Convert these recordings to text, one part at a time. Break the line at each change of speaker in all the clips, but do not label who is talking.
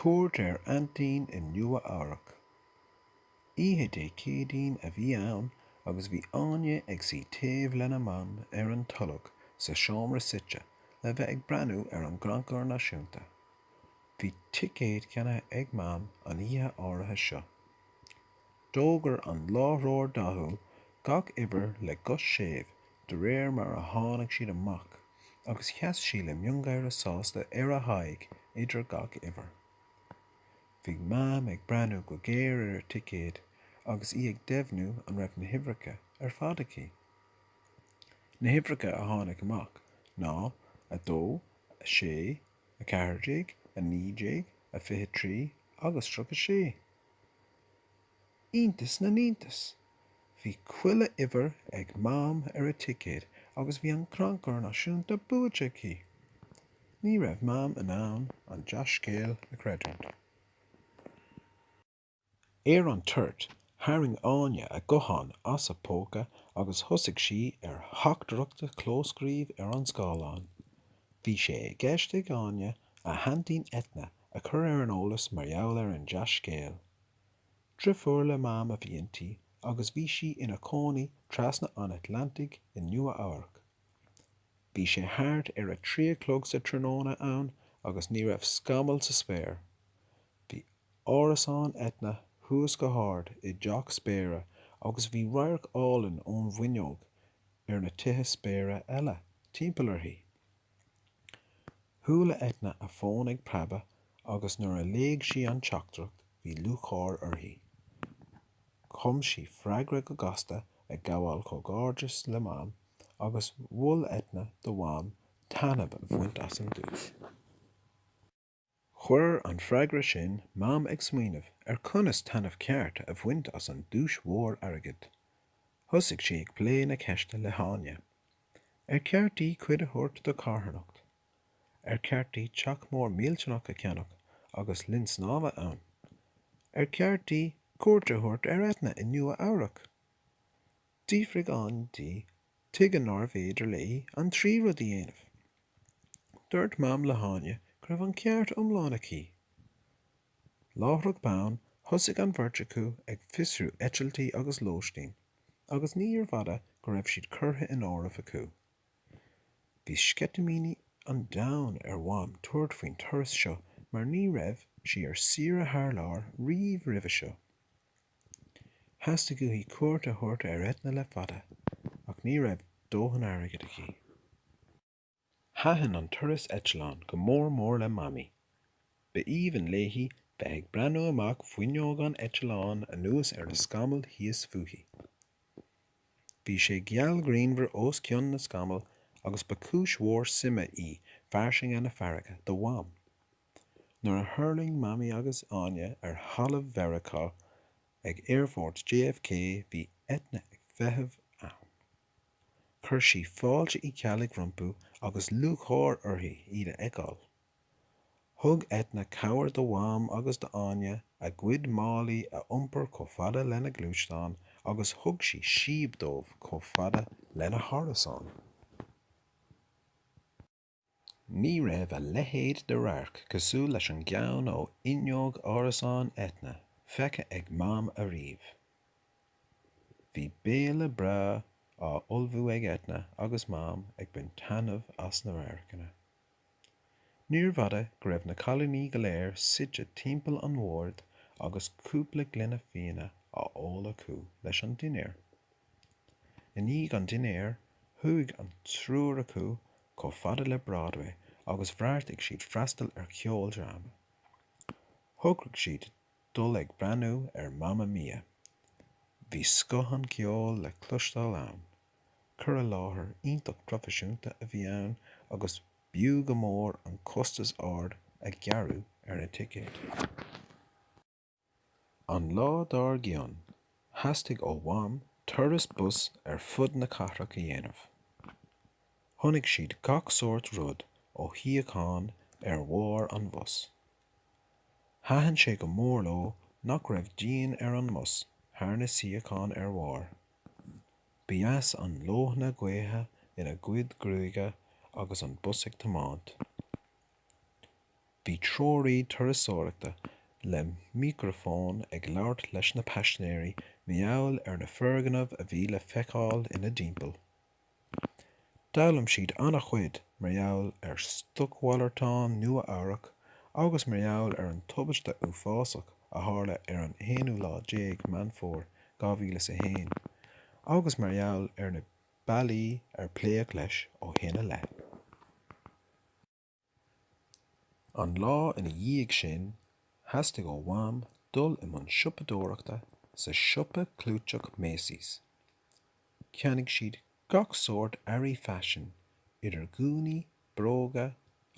Cuairt ar aintín i Nua-Eabharc. Oíche Dé Céadaoin a bhí ann agus bhí Áine ag suí taobh lena mam ar an tolg sa seomra suite le bheith ag breathnú ar an gCrannchur Náisiúnta. Bhí ticéad ceannaithe ag mam an oíche áirithe seo. D'fhógair an láithreoir dathúil gach uimhir le guth séimh de réir mar a tháinig siad amach agus sheas sí le miongháire sásta ar a haghaidh idir gach uimhir. Bhí Mam ag breathnú go géar ar a ticéad agus í ag deimhniú an raibh na huimhreacha ar fad aici. Na huimhreacha a tháinig amach ná, a dó, a sé, a ceathair déag, a naoi déag, a fiche trí agus tríocha sé. Iontas na n-iontas! Bhí chuile uimhir ag Mam ar a ticéad agus bhí an Crannchur Náisiúnta buaite aici! Ní raibh Mam in ann an dea-scéal a chreidiúint. Ar an toirt, tharraing Áine a guthán as a póca agus thosaigh sí ar theachtaireacht a chlóscríobh ar an scáileán. Bhí sé i gceist ag Áine a haintín Eithne a chur ar an eolas mar gheall ar an dea-scéal. Driofúr le Mam a bhí inti agus bhí sí ina cónaí trasna an Atlantaigh i Nua-Eabharc. Bhí sé thart ar a trí a chlog sa tráthnóna ann agus ní raibh scamall sa spéir. Bhí árasán Eithne thuas go hard i dteach spéire agus bhí radharc álainn ón bhfuinneog ar na tithe spéire eile timpeall uirthi. Chuala Eithne a fón ag preabadh agus nuair a léigh sí an teachtaireacht bhí lúcháir uirthi. Chum sí freagra go gasta ag gabháil comhghairdeas le Mam agus mhol Eithne do Mham taitneamh a bhaint as an duais. Chuir an freagra sin Mam ag smaoineamh ar conas taitneamh ceart a bhaint as an duais mhór airgid. Thosaigh sí ag plé na ceiste le hÁine. Ar cheart di cuid a thabhairt do charthanacht? Ar cheart di teach mór millteanach a cheannach agus linn snámha ann? Ar cheart di cuairt a thabhairt ar Eithne i Nua-Eabharc? D'fhiafraigh Áine di, tuige nárbh fhéidir léi an trí rud a dhéanamh. Dúirt Mam le hÁine go raibh an ceart iomlán aici. Láithreach bonn, thosaigh an bheirt acu ag fiosrú eitiltí agus lóistín, agus níorbh fhada go raibh siad curtha in áireamh acu. Bhí sceitimíní an domhain ar Mham tabhairt faoin turas seo mar ní raibh sí ar saoire thar lear riamh roimhe seo. Theastaigh uaithi cuairt a thabhairt ar Eithne le fada ach ní raibh dóthain airgid aici. Thaitin an turas eitleáin go mór mór le Mamaí. Ba aoibhinn léi bheith ag breathnú amach fuinneog an eitleáin anuas ar na scamaill thíos fúithi. Bhí sé geal grianmhar os cionn na scamall agus ba chúis mhór suime í fairsinge na farraige do Mham. nuair a thuirling Mamaí agus Áine ar thalamh Mheiriceá ag aerfort JFK bhí Eithne ag feitheamh ann. Chuir sí fáilte Uí Cheallaigh rompu agus lúcháir uirthi iad a fheiceáil. Thug Eithne cabhair do Mham agus d'Áine a gcuid málaí a iompar chomh fada lena gluaisteán agus thug sí síob dóibh chomh fada lena hárasán. Ní raibh a leithéid de radharc cosúil leis an gceann ó fhuinneog árasán Eithne feicthe ag Mam ariamh. Bhí béile breá á ullmhú ag Eithne agus Mam ag baint taitneamh as na radharcanna. Níorbh fhada go raibh na cailíní go léir suite timpeall an bhoird agus cúpla gloine fíona á ól acu leis an dinnéar. I ndiaidh an dinnéir, chuaigh an triúr acu chomh fada le Broadway agus bheartaigh siad freastal ar cheoldráma. Thograigh siad dul ag breathnú ar Mamma Mia. Bhí scoth an cheoil le cloisteáil ann, cur i láthair iontach proifisiúnta a bhí ann agus b'fhiú go mór an costas ard a gearradh ar na ticéid. An lá dár gcionn, theastaigh ó Mham turas bus ar fud na cathrach a dhéanamh. Chonaic siad gach sórt rud ó shuíocháin ar bharr an bhus. Thaitin sé go mór leo nach raibh díon ar an mbus thar na suíocháin ar bharr. Ba dheas an leoithne gaoithe ina gcuid gruaige agus an bus ag tiomáint. Bhí treoraí turasóireachta le mícreafón ag labhairt leis na paisnéirí mar gheall ar na foirgnimh a bhí le feiceáil ina dtimpeall. D'fhoghlaim siad an-chuid mar gheall ar stocmhalartán Nua Eabhrac agus mar gheall ar an tubaiste uafásach a tharla ar an aonú lá déag Meán Fómhair 2001 agus mar gheall ar na bealaí ar pléadh leis ó shin i leith. An lá ina dhiaidh sin, theastaigh ó Mham dul i mbun siopadóireachta sa siopa clúiteach Macy's. Cheannaigh siad gach sórt earraí faisin, idir ghúnaí, bróga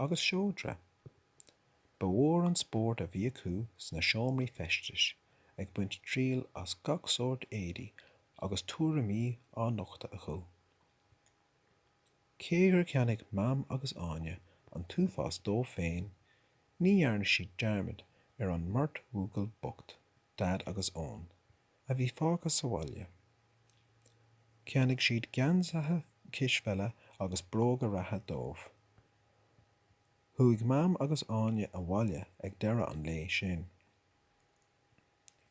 agus seodra. Ba mhór an spórt a bhí acu sna seomraí feistis, ag baint triail as gach sórt éadaí agus tuairimí á nochtadh acu. Cé gur cheannaigh Mam agus Áine an t-uafás dóibh féin, ní dhearna siad dearmad ar an mbeirt bhuachaill bocht, Daid agus Eoin, a bhí fágtha sa bhaile. Cheannaigh siad geansaithe cispheile agus bróga reatha dóibh. Chuaigh Mam agus Áine abhaile ag deireadh an lae sin.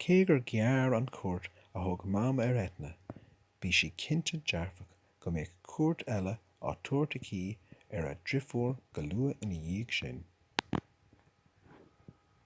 Cé gur ghearr an chuairt a thug Mam ar Eithne, bhí sí cinnte dearfach go mbeadh cuairt eile á tabhairt aici ar a driofúr go luath ina dhiaidh sin.